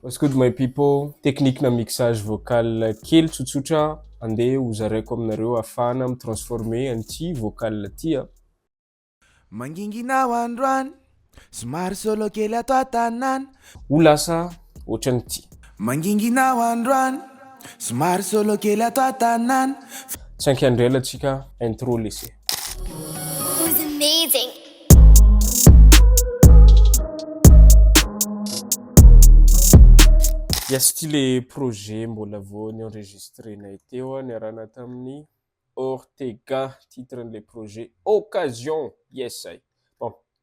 What's good my people, technique na mixage vocal kely tsotsotra ande ho zaraiko aminareo ahafahana mi transformer an'ity vocal ty a. Mangingina ho androany, somary solo kely ato an-tanàna. Ho lasa ohatran'ity. Mangingina ho androany, somary solo kely ato an-tanàna. Tsy ankiandrela tsika intro lesy e. Yes, ity le projet mbola vao ny enregistrenay teo a, niarahana tamin'ny Ortega, titre an'ilay projet Occasion, yes ay. Bon,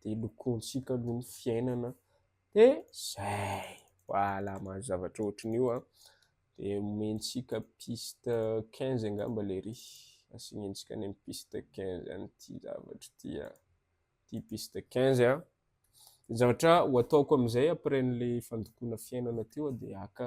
dia lokointsika aloha ny fiainana dia izay, voilà mahazo zavatra ohatran' io an, dia omentsika piste quinze angamba ilay ry, asanentsika any amin'ny piste quinze any ity zavatra ity an, ity piste quinze an, ny zavatra ho ataoko amin'izay après an'ilay fandokoana fiainana teo dia haka.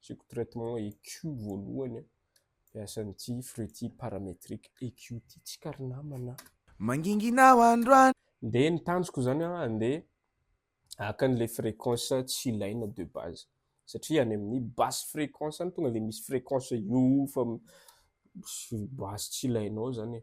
Asiako traitement EQ voalohany dia asan'ity fruity parametric EQ ity tsika ry namana a! Mangingina aho androany. Dia ny tanjoko izany an, andeha haka an'ilay fréquence tsy ilaina de base satria any amin'ny basse fréquence any tonga dia misy fréquence io fa basse tsy ilainao izany e!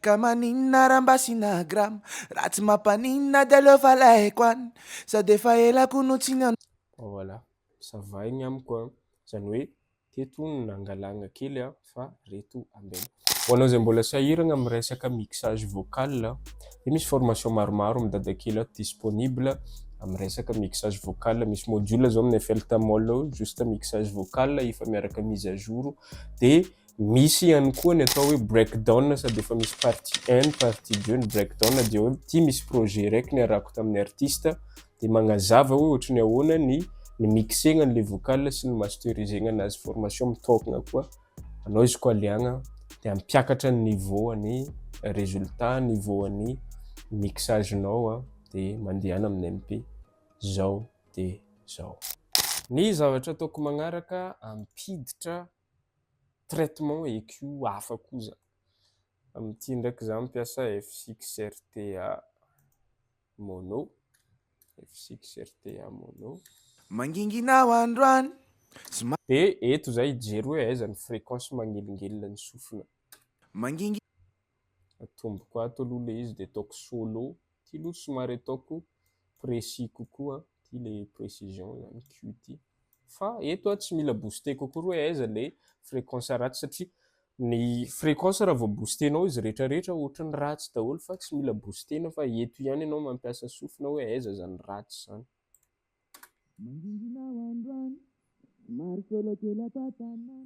Ka maninona raha mba asiana grama Raha tsy mampaninona dia aleo fa alehiko any Sady efa ela ko no tsy niha. Voilà, ça va igny amiko an! Zany hoe teto hono no nangalagna kely an! Fa reto ambela. Ho anao izay mbola sahiragna amin'ny resaka mixage vocal dia misy formation maromaro midada kely ato disponible amin'ny resaka mixage vocal. Misy module zao amin'ny FL Tamol ao juste mixage vocal efa miaraka mise à jour dia. Misy ihany koa ny atao hoe break down sady efa misy partie un, partie deux ny break down dia hoe ity misy projet iraiky niarahako tamin'ny artiste dia magnazava hoe ohatry ny ahoana ny ny mixegna an'ilay vocal sy ny masterisegna anazy, formation mitôkagna koa anao izy koa liagna dia hampiakatra ny niveau an'ny résultat, niveau an'ny mixage nao an dia mandehana amin'ny MP zao dia zao. Ny zavatra ataoko magnaraka ampiditra traitement ecu hafa koa izany. Amin'ity ndraiky izaho mampiasa F6RTA mono, F6RTA mono. Mangingina aho androany sy ma. Dia eto izaho hijery hoe aiza ny fréquence magnelingelina ny sofina. Mangingina. Atomboko ato aloha ilay izy dia ataoko solo. Ity aloha somary ataoko précis kokoa. Ity ilay précision izany Q ity. Fa eto tsy mila booster kokoa hoe aiza ilay fréquence ratsy satria ny fréquence raha vao booster-nao izy rehetra rehetra ohatry ny ratsy daholo fa tsy mila booster-na fa eto ihany ianao mampiasa sofina hoe aiza izany ratsy izany. Mangingina ho androany, maro sôlôkely ato an-tanàna,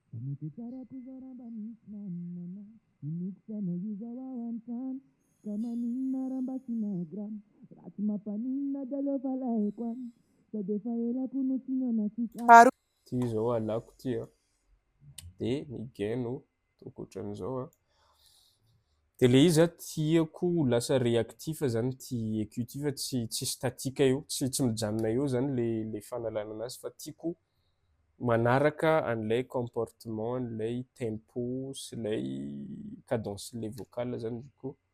fa mety ho tsara koa zao raha mba misy namana hinoako fa na io zao ao an-trano, ka maninona raha mba asiana grama, raha tsy mampaninona dia aleo fa alehako any, sady efa ela koa no tsy nihaona antsika. Ity izao halako ity an! Dia ny gain no Ohatran'izao a. Dia ilay izy a, tiako ho lasa réactif izany ity écu ity fa tsy tsy statique eo, tsy tsy mijanona eo izany ilay ilay fanalana anazy fa tiako manaraka an'ilay comportement an'ilay tempo sy ilay cadencen'ilay vocal izany izy koa.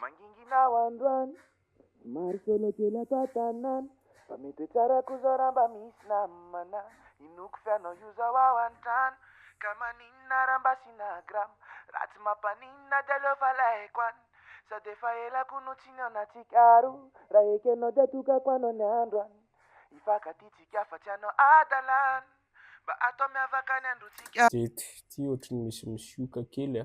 Mangingina aho androany, somary solo kely ato an-tanàna, fa mety hoe tsara koa zao raha mba misy namana, inoako fa ianao io zao ao an-trano, ka maninona raha mba asiana grama, raha tsy mampaninona dia aleo fa alaiko any, sady efa ela koa no tsy nihaona antsika roa, raha ekenao dia atokako anao ny androany, hifankatia tsika fa tsy hanao hadalana, mba atao miavaka ny androntsika. Zety, ty ohatry ny misy misioka kely a.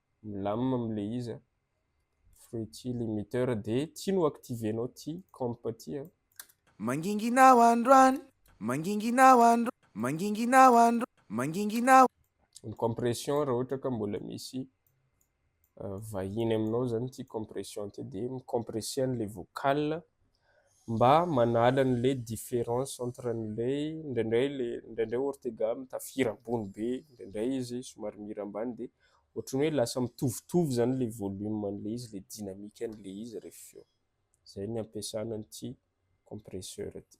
milamina am le izy a, fruity limiter de ty no activenao ty comp ty a. Mangingina aho androany, mangingina aho andro, mangingina aho andro, mangingina aho. Ny compression raha ohatra ka mbola misy vahiny aminao zany ty compression ty de mi-compresser an'le vocal mba manala an'ilay différence entre an'ilay indraindray ilay indraindray Ortega mitafira ambony be indraindray izy somary mihira ambany dia ohatry ny hoe lasa mitovitovy izany ilay volume an'ilay izy, ilay dynamique an'ilay izy rehefa avy eo. Izay ny ampiasana an'ity compresseur ity.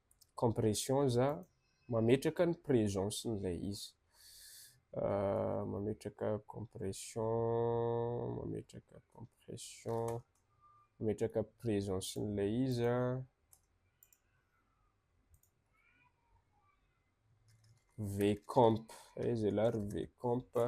compression za mametraka ny presence n'ilay izy mametraka compression mametraka compression mametraka presence n'ilay izy an vcomp aiza ialahy ry vcomp a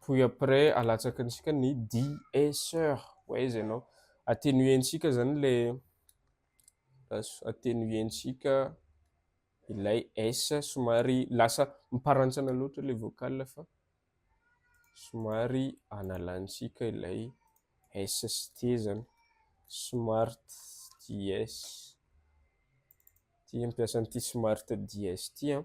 Puis après alatsaky antsika ny DSR hoe aiza ianao. Attenuer-ntsika izany ilay lasa attenuer-ntsika ilay S somary lasa miparantsana loatra ilay vocal fa somary analantsika ilay S sy T izany. Smart DS. Ity ampiasa an'ity smart DS ity an.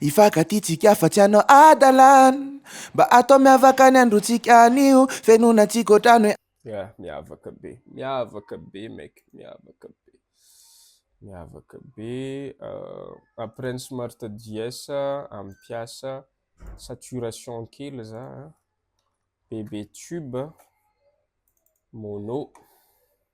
Hifankatia-tsika fa tsy hanao hadalana Mba atao miavaka ny androntsika anio Fenonantsika otrany hoe. Yeah, miavaka be, miavaka be mec, miavaka be, miavaka be euh, après ny smart JS ampiasa saturation kely za a, bebe tube, mono,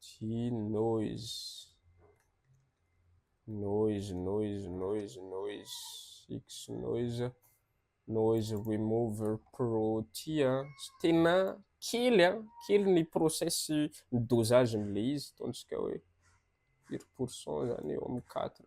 Tsy noise. Noise, noise, noise, noise. X noise. Noise remover pro tia. Tena kely an. Ah. Kely ny process ny dosage n'ilay izy. Ataontsika hoe firy pourcent izany eo amin'ny 4.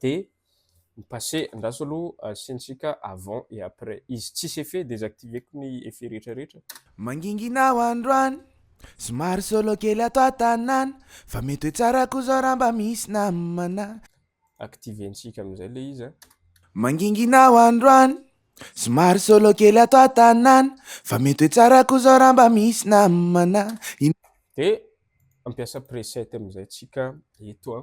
de ny passé andraso aloha asiantsika avant et après izy tsisy effet desactiveko ny effet rehetra rehetra. Mangingina ho androany Somary solo kely ato an-tanàna Fa mety hoe tsara koa zao raha mba misy namana. Activentsika amin'izay ilay izy a. Mangingina ho androany Somary solo kely ato an-tanàna Fa mety hoe tsara koa zao raha mba misy namana. Dia mampiasa preset amin'izay tsika eto a.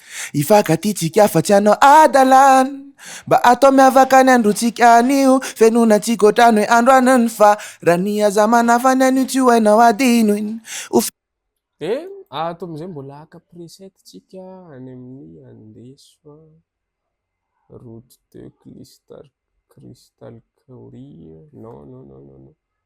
Hifankatia-tsika fa tsy hanao hadalana Mba atao miavaka ny androntsika anio Fenonantsika otrany hoe andro an'ny farany Aza manafa ny anio tsy ho hainao hadinoina Ho Dia ato amin'izay mbola haka preset tsika any amin'ny andeso a Route de Crystal Crystal Courier non non non non non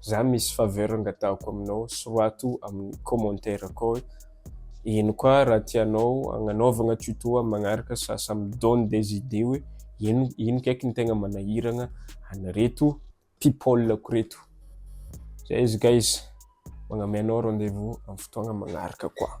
Za misy faveur angataako aminao, sorato amin'ny commentaire akao hoe ino koa raha tianao agnanaovagna tuto amin'ny magnaraka sa ça me donne des idées hoe ino ino kaiky ny tegna manahiragna an'ireto people-ko reto. Zay izy guys, magname anao rendez-vous amin'ny fotoagna magnaraka koa.